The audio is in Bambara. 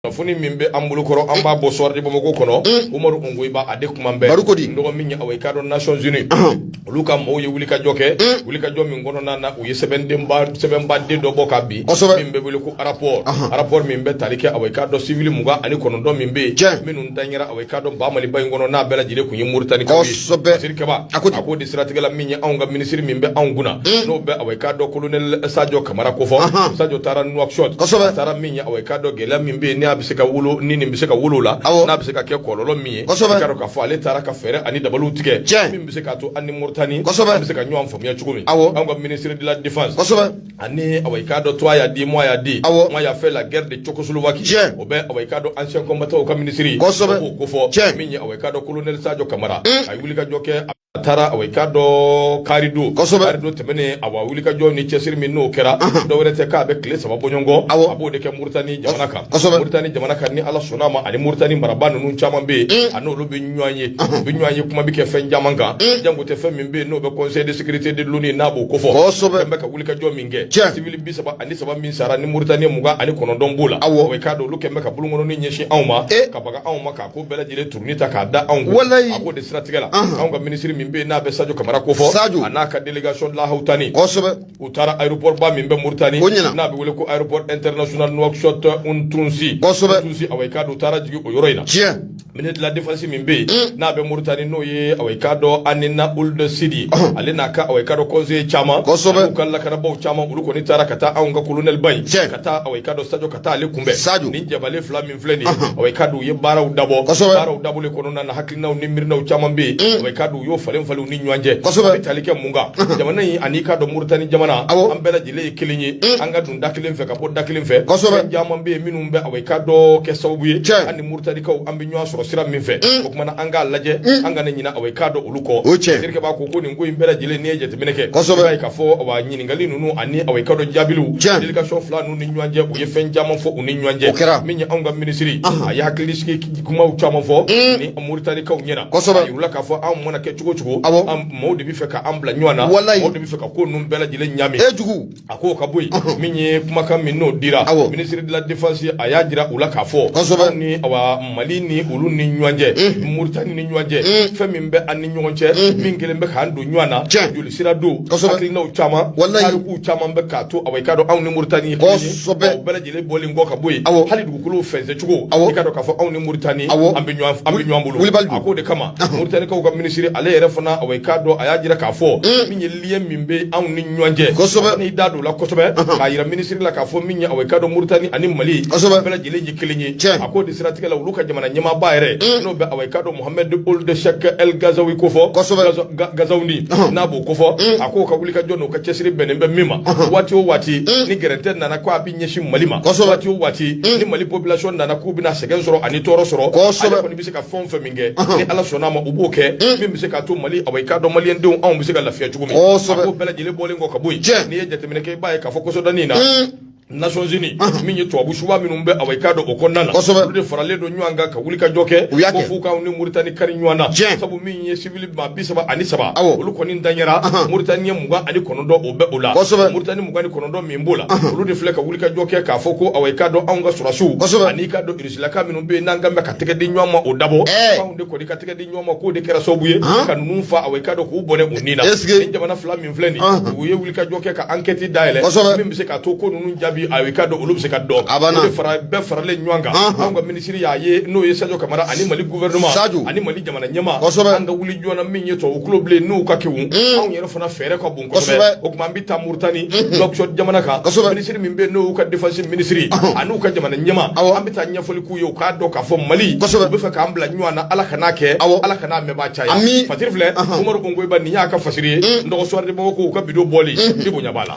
kunnafoni min bɛ an bolokɔrɔ an b'a bɔ Soir de bamakɔ kɔnɔ mm. umaru ongoyiba a de kuma bɛɛ barikodi dɔgɔ min ye aw i k'a dɔn Nations Unies olu ka mɔgɔw ye wulikajɔ kɛ mm. wulikajɔ min kɔnɔna na u ye sɛbɛndenba sɛbɛnba de dɔ bɔ ka bin min bɛ wele ko rapport rapport min bɛ tali kɛ aw i k'a dɔn civil mugan ani kɔnɔntɔn min bɛ yen minnu danyɛra aw i k'a dɔn ba maliba in kɔnɔ n'a bɛɛ lajɛlen kun ye moritani kaw ye siri kaba a k'o de siratigɛ la min ye anw ka minisiri min bɛ anw kunna mm. n'o bɛ aw i k'a dɔn kolonɛli sajo kamara kofɔ sajo taara nuwakisɔti taara awɔ i k'a dɔn gɛlɛya min bɛ yen n'a bɛ se ka wolo ni nin bɛ se ka wolo la n'a bɛ se ka kɛ kɔlɔlɔ min ye kosɛbɛ k'a k'a fɔ ale taara ka fɛɛrɛ ani dabaliw tigɛ tiɲɛ min bɛ se k'a to an ni Mauritanie kosɛbɛ bɛ se ka ɲɔgɔn faamuya cogo min awɔ anw ka ministre de la défense kosɛbɛ ani awɔ i k'a dɔn toi y'a dit moi y'a dit awɔ moi y'a fait la guerre de Tchécoslovaquie tiɲɛ o bɛ awɔ i k'a dɔn ancien combattant ka ministre kosɛbɛ o k'o kofɔ tiɲɛ min ye awɔ i k'a dɔn colonel Sadio Camara a ye wulikajɔ kɛ a taara a i k'a dɔn karidon karidon tɛmɛnen awa wulikajɔ ni cɛsiri min n'o kɛra dɔwɛrɛ tɛ k'a bɛ tile saba bɔ ɲɔgɔn kɔ a b'o de kɛ moritani jamana kan moritani jamana kan ni ala sɔnna ma ani moritani marabaa ninnu caman bɛ yen a n'olu bɛ ɲɔgɔn ye u bɛ ɲɔgɔn ye kuma bɛ kɛ fɛn caman kan jango tɛ fɛn min bɛ yen n'o bɛ conseil de sécurité de l'ONU n'a b'o kofɔ bɛ ka wulikajɔ min kɛ civil bi saba ani saba min sara ni moritani mugan ani kɔnɔntɔn b'o la aw i k'a dɔn olu kɛ bɛ ka bolonkɔnin ɲɛsin anw ma ka baga anw ma ka ko bɛɛ lajɛlen Ni ta k'a da anw kun walayi a k'o de siratigɛ la anw ka minisiri min bɛ n'a bɛ sajo kamara kofɔ sajo a n'a ka délégation lahawutani kosɛbɛ u taara aéroportba min bɛ moritani o ɲɛna n'a bɛ wele ko aéroport international Nouakchott Oumtounsy kosɛbɛ tunsi a i k'a dɔn u taara jigin o yɔrɔ in na tiɲɛ ministre de la défense min bɛ yen mm. n'a bɛ moritani n'o ye a i k'a dɔn Hanena Ould Sidi ale n'a ka a i k'a dɔn conseiller caman kosɛbɛ u ka lakanabaw caman olu kɔni taara ka taa anw ka kolonɛliba in ka taa a i k'a dɔn sajo ka taa ale kunbɛn sajo ni cɛbalen fila min filɛ nin ye aw i k'a dɔn u ye baaraw dabɔ baaraw dabɔli kɔnɔna na hakilinaw ni miirinaw caman bɛ yen mm. aw i k'a dɔn u y'o falen falen u ni ɲɔgɔn cɛ a bɛ tali kɛ mun kan jamana in an'i k'a dɔn Mauritanie jamana an bɛɛ lajɛlen ye kelen ye mm. an ka don da kelen fɛ ka bɔ da kelen fɛ fɛn caman bɛ yen minnu bɛ aw i k'a dɔn kɛ sababu ye an ni Mauritaniekaw an bɛ ɲɔgɔn sɔrɔ sira min fɛ mm. o kuma na an k'a lajɛ an kana ɲinɛ aw i k'a dɔn olu kɔ Jerika b'a ko ko nin ko in bɛɛ lajɛlen n'i ye jateminɛ kɛ i b'a ye k'a fɔ awa ɲininkali ninnu ani aw i k'a dɔn jaabiliw u ni ɲɔgɔn cɛ u ye fɛn caman fɔ u ni ɲɔgɔn cɛ o kɛra min ye anw ka minisiri a ye hakilisigi kumaw caman fɔ mm. ni moritanikaw ɲɛna kosɛbɛ a yira u la k'a fɔ anw mana kɛ cogo cogo awɔ mɔɔw de bɛ fɛ ka an bila ɲɔgɔn na walayi mɔɔw de bɛ fɛ ka ko ninnu bɛɛ lajɛlen ɲami e jugu a k'o ka bɔ yen min ye kumakan min n'o dira awɔ minisiri de la défense a y'a jira u la k'a fɔ kosɛbɛ ni awa mali ni olu ni ɲɔgɔn cɛ mm. moritani ni ɲɔgɔn cɛ mm. fɛn min bɛ an ni ɲɔgɔn cɛ min kelen bɛ k'an don ɲɔgɔn na joli sira don hakilinaw caman tarikuw caman bɛ k'a to awɔ i k'a dɔn anw ni Mauritanie kosɛbɛ bɛɛ lajɛlen bɔlen kɔ ka bɔ yen awɔ hali dugukolo fɛnsɛncogo awɔ i k'a dɔn k'a fɔ anw ni Mauritanie awɔ an bɛ ɲɔgɔn an bɛ ɲɔgɔn bolo wilibali a k'o de kama Mauritanie kaw ka minisiri ale yɛrɛ fana awɔ i k'a dɔn a y'a jira k'a fɔ min ye lien min bɛ anw ni ɲɔgɔn cɛ n'i da don la kosɛbɛ k'a jira minisiri la k'a fɔ min ye aw ka dɔn Mauritanie ani mali bɛɛ lajɛlen ye kelen ye a ko de siratigɛ la olu ka jamana ɲɛmaaba yɛrɛ n'o bɛ aw ka dɔn Mohamed Ould Cheikh El Ghazouani ko fɔ Ghazouani n'a b'o ko fɔ a k'o ka wuli ka jɔ n'o ka cɛsiri bɛnnen bɛ min ma waati o waati ni gɛrɛntɛ nana ko a bɛ ɲɛsin mali ma waati o waati ni mali population nana k'u bɛna sɛgɛn sɔrɔ ani tɔɔrɔ sɔrɔ olu kɔni bɛ se ka fɛn o fɛn min kɛ ni ala sɔnna ma u b'o kɛ min bɛ se k'a to mali awa i k'a dɔn maliyɛndenw anw bɛ se ka lafiya cogo min ko bɛɛ lajɛlen bɔlen kɔ ka bɔ yen n'i ye jateminɛ kɛ i b'a ye k'a fɔ kɔsɔdanin na Nations Unies min ye tubabu subaa minnu bɛ awa i k'a dɔn o kɔnɔna na olu de faralen don ɲɔgɔn kan ka wuli ka jɔ kɛ ko f'u k'anw ni Mauritanie kari ɲɔgɔn na sabu min ye civil maa bi saba ani saba olu kɔni danyara Mauritanien mugan ani kɔnɔntɔn o bɛ o la Mauritanien mugan ni kɔnɔntɔn min b'o la olu de filɛ ka wuli ka jɔ kɛ k'a fɔ ko awa i k'a dɔn anw ka sɔrɔdasiw an'i k'a dɔn Laka minnu bɛ yen n'an kan bɛ ka tɛgɛ di ɲɔgɔn ma o dabɔ k'anw de kɔni ka tɛgɛ di ɲɔgɔn ma k'o de kɛra sababu ye ka ninnu fa awa i k'a dɔn k'u bɔnɛ u ni na ni jamana fila min filɛ nin u ye wuli ka jɔ kɛ ka ankɛti dayɛlɛ min bɛ se ka to ko ninnu jaabi awa i k'a dɔn olu bɛ se ka dɔn a fara bɛɛ faralen ɲɔgɔn kan anw ka minisiri y'a ye n'o ye sajo kamara ani mali gouvernement ani mali jamana ɲɛma an ka wuli joona min ye tubabu kulo bilen n'u ka kewu anw yɛrɛ fana fɛɛrɛ ka bon kosɛbɛ o kuma an bɛ taa Mauritanie Nouakchott jamana kan minisiri min bɛ yen n'o y'u ka défense minisiri a n'u ka jamana ɲɛma an bɛ taa ɲɛfɔli k'u ye u k'a dɔn k'a fɔ Mali u b'a fɛ k'an bila ɲɔgɔn na Ala kan'a kɛ Ala kan'a mɛnbaa caya ami fasiri filɛ Umaru Ongoyiba nin y'a ka fasiri ye nɔgɔ soir de Bamako u ka bido bɔli ni bonya b'a la